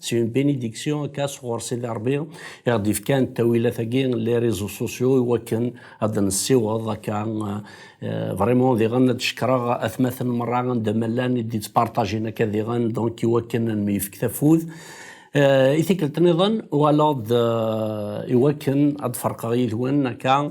C'est une bénédiction akka sɣur Sidi Ṛebbi i ɣ-d-ifkan ttawilat-agi n les réseaux sociaux iwakken ad d-nessiweḍ akka vraiment diɣen ad d-cekkreɣ atmaten merra anda ma llan i d-yettpartajin akka diɣen donc iwakken ad nmyefk tafud i tikkelt niḍen walaḍ iwakken ad d-ferqeɣ yid-wen akka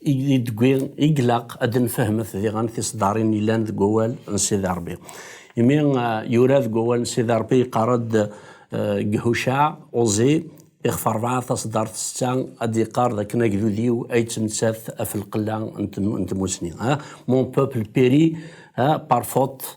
Degwi i glaq ad d-nfehmet diɣen tiseddarin yellan deg wawal n Sidi Rebbi. Imi yura deg wawal n Sidi Rebbi yeqqar-d deg Hucaɛ, Uẓi, ixef rebɛa taseddart setta, ad d-yeqqar dakken agdud-iw ad yettmettat ɣef lqella n tmussni, Mon peuple périt par faute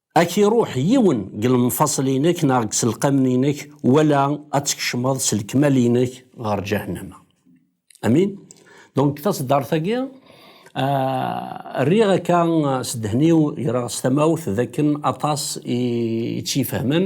Ad k-iruḥ yiwen deg lemfaṣel-inek neɣ deg iselqamen-inek, wala ad tkecmeḍ s lekmal-inek ɣer Ǧahennama. Amin? Donc, taṣeddart-agi, ah, rriɣ akka s ddhen-iw, greɣ s tamawt, d akken aṭas i tt-ifehmen.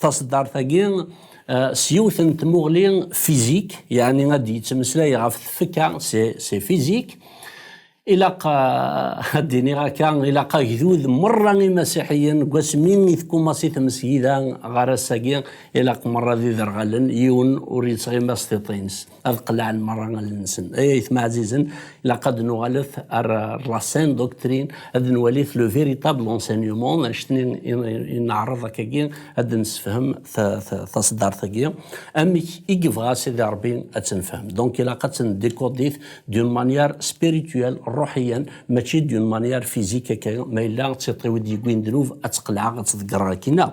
Taṣeddart-agi s yiwet n tmuɣli fizik, yeɛni ad d-yettmeslay ɣef tfekka, se fizik, ilaq ad d-iniɣ akka, ilaq agdud merra imasiḥiyen deg wasmi i tkummaṣ i tmesgida ɣer ass-agi, ilaq merra d iderɣalen, yiwen ur yettɣima s tiṭ-ines. ad qellɛen merra allen-nsen. Ay ayetma ɛzizen, ilaq ad nuɣalet ar la saine doctrine, ad nwalit le véritable enseignement, annect-nni i neɛreḍ akkagi ad d-nessefhem taṣeddart-agi, amek i yebɣa Sidi Ṛebbi ad tt-nefhem. Donc ilaq ad tt-ndécoder-it d'une manière spirituelle, ṛṛuḥiyan, mačči d'une manière physique akka, ma yella d tiṭ-iw i d-yewwin ddnub ad tt-qelɛeɣ, ad tt-ḍeggreɣ akkin-a.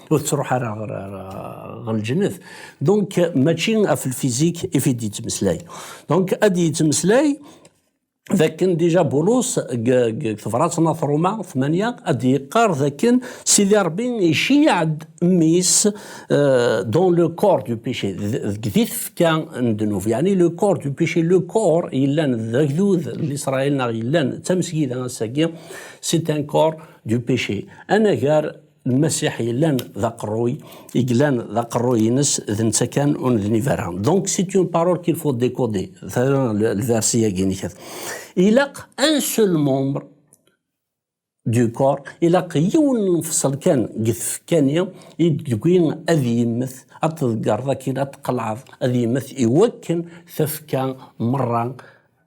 ur tettruḥ ara ɣer ɣer lǧennet donc mačči ɣef lfizik i fi d-yettmeslay donc ad d-yettmeslay dakken dija Bulus deg tebṛat n At Ruma 8 ad d-yeqqar dakken Sidi Ṛebbi iceyyeɛ-d mmi-s euh, dans le corps du péché deg di tefka n ddnub yeɛni le corps du péché le corps yellan d agdud n Isṛayil neɣ yellan d tamesgida ass-agi c'est un corps du péché anagar Lmasiḥ yellan d aqerruy, i yellan d aqerruy-ines d netta kan ur nednib ara. Donc c'est une parole qu'il faut décoder. Tala lversi-agi nekkat. Ilaq un seul membre du corps, ilaq yiwen n lefṣel kan deg tfekka-nni i d-tegwi ad yemmet, ad tḍeggereḍ akin, ad tqelɛeḍ, ad yemmet iwakken tafekka merra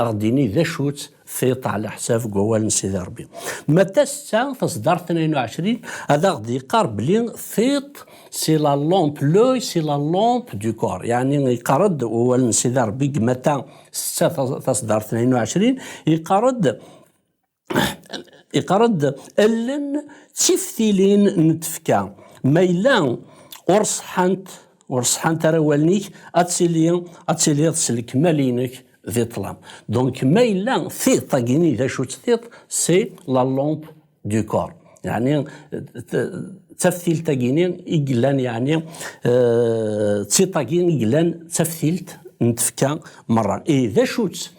Ad ɣ-d-yini d acu-tt tiṭ ɛlaḥsab deg wawal n Sidi Ṛebbi. Ma d tasetta, tasdart tnayen u ɛecrin, ad aɣ-d-yeqqar belli tiṭ c'est la lampe, l'œil c'est la lampe du corps, yeɛni yeqqar-d wawal n Sidi Ṛebbi deg Mata setta, tasdart tnayen u ɛecrin, yeqqar-d iqared allen d tiftilin n tefka ma yella ur ṣeḥḥant ur ṣeḥḥant ara wallen-ik ad tili ad tiliḍ s lekmal-inek di ṭṭlam donc ma yella tiṭ agini d acu-tt tiṭ c'est la lampe du corps yani d taftilt agini i yellan yani d tiṭ agi i yellan d taftilt n tefka merra i d acu-tt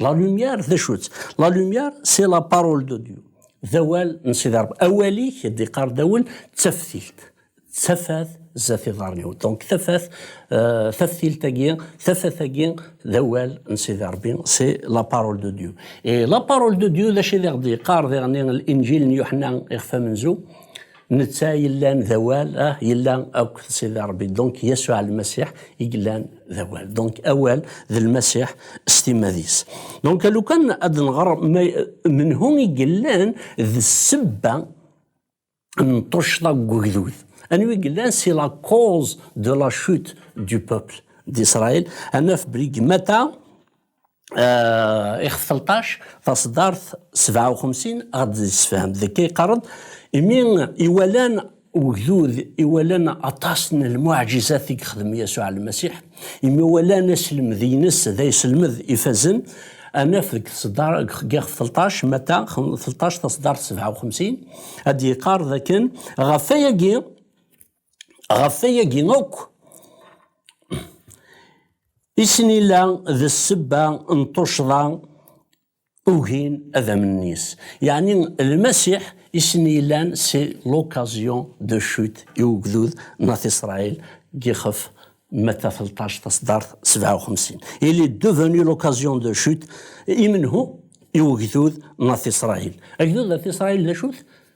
La lumière d acu-tt? La lumière c'est la parole de Dieu. D awal n Sidi Rebbi. Awal-ik, d-iqqar Dawel, d taftilt. D tafat zdat iḍarren-iw. Donc tafat, euh, taftilt-agi, tafat-agi, d awal n Sidi Rebbi. C'est la parole de Dieu. Et la parole de Dieu, d acu i d-iqqar diɣen l-Injil n Yuḥna iɣef amenzu? Netta yellan d awal, ah, yella akk d Sidi Rebbi. Donc Yasuɛ Lmasiḥ i yellan d awal. Donc awal d Lmasiḥ s timmad-is. Donc lukan ad d-nɣer menhu i yellan d ssebba n tuccḍa deg ugdud. Anwa i yellan c'est la cause de la chute du peuple d'Israël. Ad naf belli deg Mata, ix 13 taṣeddart 57 ɣad d-yessefhem d akka yeqqar-d imi iwalan ugdud iwalan aṭas n lmuɛjizat i yexdem Yasuɛ Lmasiḥ imi walan aselmed-ines d ayselmed ifazen anaf deg ixef 13 mata 13 taṣeddart 57 ad d-yeqqar dakken ɣef ayagi Ɣef wayagi akk, isnila d ssebba n tuccḍa ugin ad amnen-is. Yeɛni Lmasiḥ isnilan c'est l'occasion de chute i ugdud n At Isṛail deg ixef Matta telṭac taṣeddart sebɛa u xemsin. Il est devenu l'occasion de chute i menhu? I ugdud n At Isṛail. Agdud n At Isṛail d acu-t?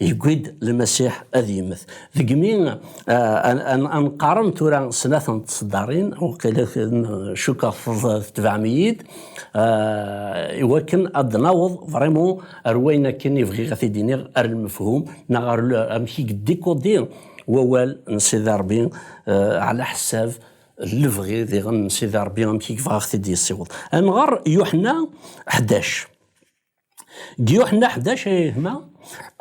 Yewwi-d Lmasiḥ ad yemmet. Deg mi ad nqarren tura snat n tseddarin, waqila cukkeɣ tetbeɛem-iyi-d, iwakken ad d-naweḍ vraiment ar wayen akken i bɣiɣ ad t-id-iniɣ, ar lmefhum neɣ ar amek i yeddikudi wawal n Sidi Ṛebbi ɛla ḥessab n lebɣi diɣen n Sidi Ṛebbi amek i yebɣa ad ɣ-t-id-yessiweḍ. Ad nɣer Yuḥenna ḥdac. Gyuḥenna ḥdac ay gma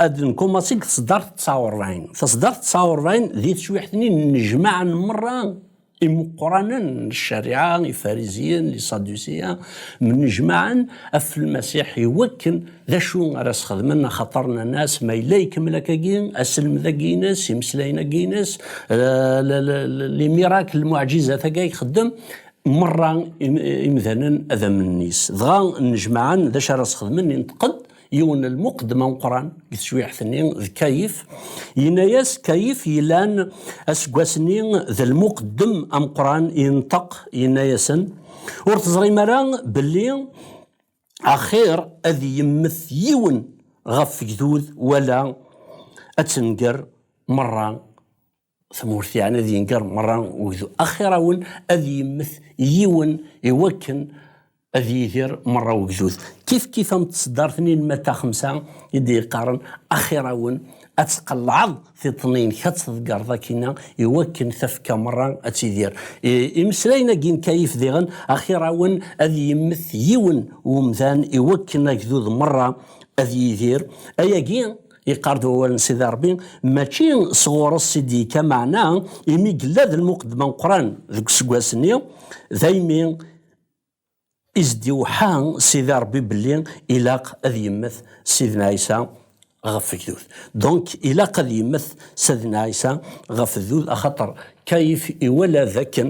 ad nkumaṣi deg tseddart tsa uṛbaɛin. Taseddart tsa uṛbaɛin d teswiḥt-nni n nnejmaɛa n merra imeqqranen n ccariɛa, ifariziyen, liṣadusiyen, mnejmaɛen ɣef Lmasiḥ i wakken d acu ara as-xedmen, axaṭer nnan-as, Ma yella ikemmel akkagi, aselmed-agi-ines, imeslayen-agi-ines, limirak, lmuɛǧizat-agi ay ixeddem, Merra imdanen ad amen-is. Dɣa nnejmaɛen d acu ara sxedmen, inṭeq-d yiwen n lmuqeddem ameqqran deg tejwiḥt-nni d Kayif. Yenna-as Kayif yellan aseggas-nni d lmuqeddem ameqqran, inṭeq yenna-asen, Ur teẓrim ara belli axir ad yemmet yiwen ɣef wegdud wala ad tenger merra tmurt yeɛni ad yenger merra ugdu axirawen ad yemmet yiwen iwakken ad yidir merra ugdud kif kif am tseddart-nni n Matta xemsa i d-yeqqaren axirawen ad tqellɛeḍ tiṭṭen-inek ad tḍegreḍ akkinna iwakken tafekka merra ad tidir imeslayen-agi n Kayif diɣen axirawen ad yemmet yiwen umdan iwakken agdud merra ad yidir ayagi Iqar-d wawal n Sidi Ṛebbi mačči sɣur-s i d-yekka meɛna imi yella d lmuqeddem ameqqran deg useggas-nni, daymi i s-d-iweḥḥa Sidi Ṛebbi belli ilaq ad yemmet Sidna Ɛisa ɣef ugdud. Donc ilaq ad yemmet Sidna Ɛisa ɣef ugdud axaṭer Kayif iwala dakken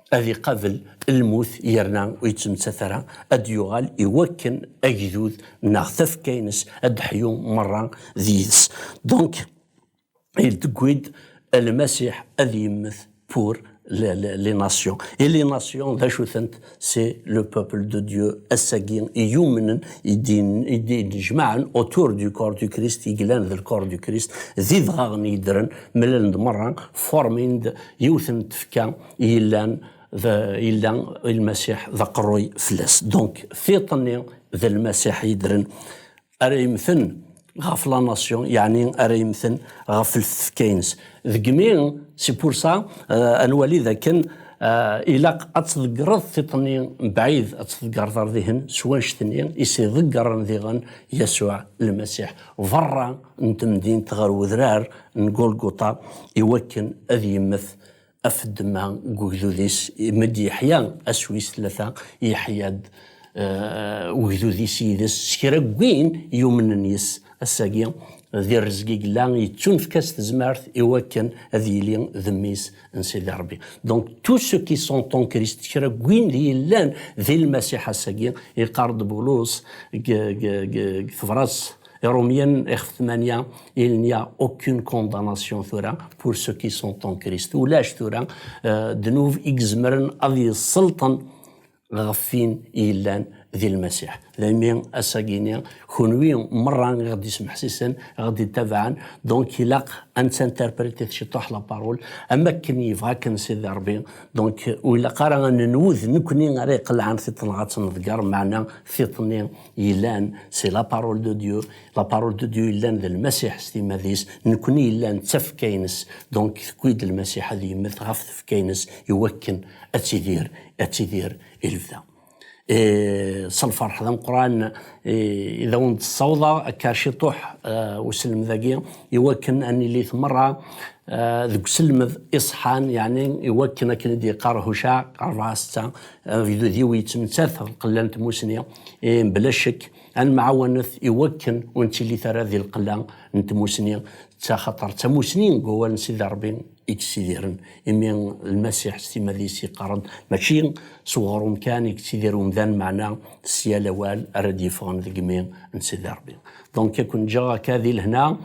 ad iqabel lmut yerna ur yettmettat ara, ad d-yuɣal i wakken agdud neɣ tafekka-ines ad d-ḥyu merra d yid-s. Donc, il tewwi-d Lmasiḥ ad yemmet pour les nations. Et les nations d acu-tent? C'est le peuple de Dieu, ass-agi i yumnen, i d-ijmaɛen autour du corps du Christ, i yellan d lkor du Christ, d idɣaɣen yeddren, mlalen-d merra, forment-d yiwet n tfekka, yellan yella lmasiḥ d aqerruy fell-as donc tiṭ-nni d lmasiḥ yedren ara yemten ɣef la nation yeɛni ara yemten ɣef ltefka-ines degmi si pour ça euh, ad nwali dakken euh, ilaq ad tḍeggreḍ tiṭ-nni mebɛid ad tḍeggreḍ ar dihin s wanect-nni i s-iḍeggren diɣen Yasuɛ lmasiḥ berra n temdint ɣer wedrar n Golgota iwakken ad yemmet Af ddemma deg ugdud-is, imed Yeḥya ass wis tlata, yeḥya-d eh, ugdud-is yid-s s kra n win yumnen yes, ass-agi di rrezg i yella, yettunefk-as tezmert i wakken ad yili d mmi-s n Sidi Rebbi. Donc, tous ceux qui sont en Christ, kra n win d yellan di Lmasiḥ ass-agi, yeqqar-d Bulus deg tebrat Irumyen ixef tmanya il n'y a aucune condamnation tura pour ceux qui sont en Christ ulac tura ddnub i izemren ad yesselṭen ɣef win yellan di Lmasiḥ daymi asagini kunwi merra i ɣ-d-ismeḥsisen i ɣ-d-ittabaɛen donc ilaq ad nettinterpréter ciṭuḥ la parole am akken yebɣa akken Sidi Ṛebbi donc ur ilaq ara ad nenwu d nekkni ara iqelɛen tiṭ neɣ ad tt-neḍger meɛna tiṭ-nni yellan si la parole de Dieu la parole de Dieu yellan d lmasiḥ s timad-is nekni yellan d tafekka-ines donc tewwi-d lmasiḥ ad yemmet ɣef tefekka-ines iwakken ad tidir ad tidir i lebda s lferḥ d ameqran i d awen-d-ssawḍeɣ akka ciṭuḥ uselmed-agi iwakken ad nili tmerra deg uselmed iṣeḥḥan yeɛni iwakken akken i d-yeqqar Hucaɛ ṛebɛa setta agdud-iw yettmettat lqella n tmusni Eh, bla ccek ad nemɛawanet i wakken ur nettilit ara di lqella n tmusni d taxaṭer d tamusni deg wawal n Sidi Ṛebbi i yettidiren imi Lmasiḥ s timad-is yeqqar-d mačči s uɣrum kan i yettidir umdan meɛna s yal awal ara d-yeffɣen deg imi n Sidi Ṛebbi donc ad ken-ǧǧeɣ akka di lehna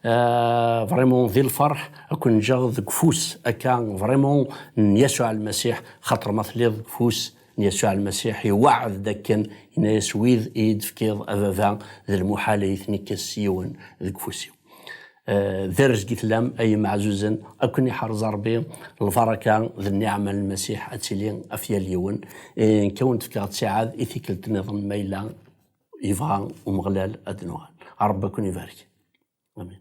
eh, vraiment di lferḥ ad ken-ǧǧeɣ deg ufus akka vraiment n Yasuɛ Lmasiḥ xaṭer ma telliḍ deg ufus Yasuɛ Lmasiḥ iweɛɛed d akken, yenna-yas, Wid i yi-d-tefkiḍ, a Baba, d lmuḥal ad yi-ten-ikkes yiwen deg ufus-iw. D arezg i tlam, ay imeɛzuzen, ad ken-iḥrez Ṛebbi. Lbaṛaka d nniɛma n Lmasiḥ ad tili ɣef yal yiwen. Nekk ad wen-d-fkeɣ ttiɛad i tikkelt niḍen ma yella yebɣa Umeɣlal ad d-nuɣal. Ṛebbi ad ken-ibarek. Amin.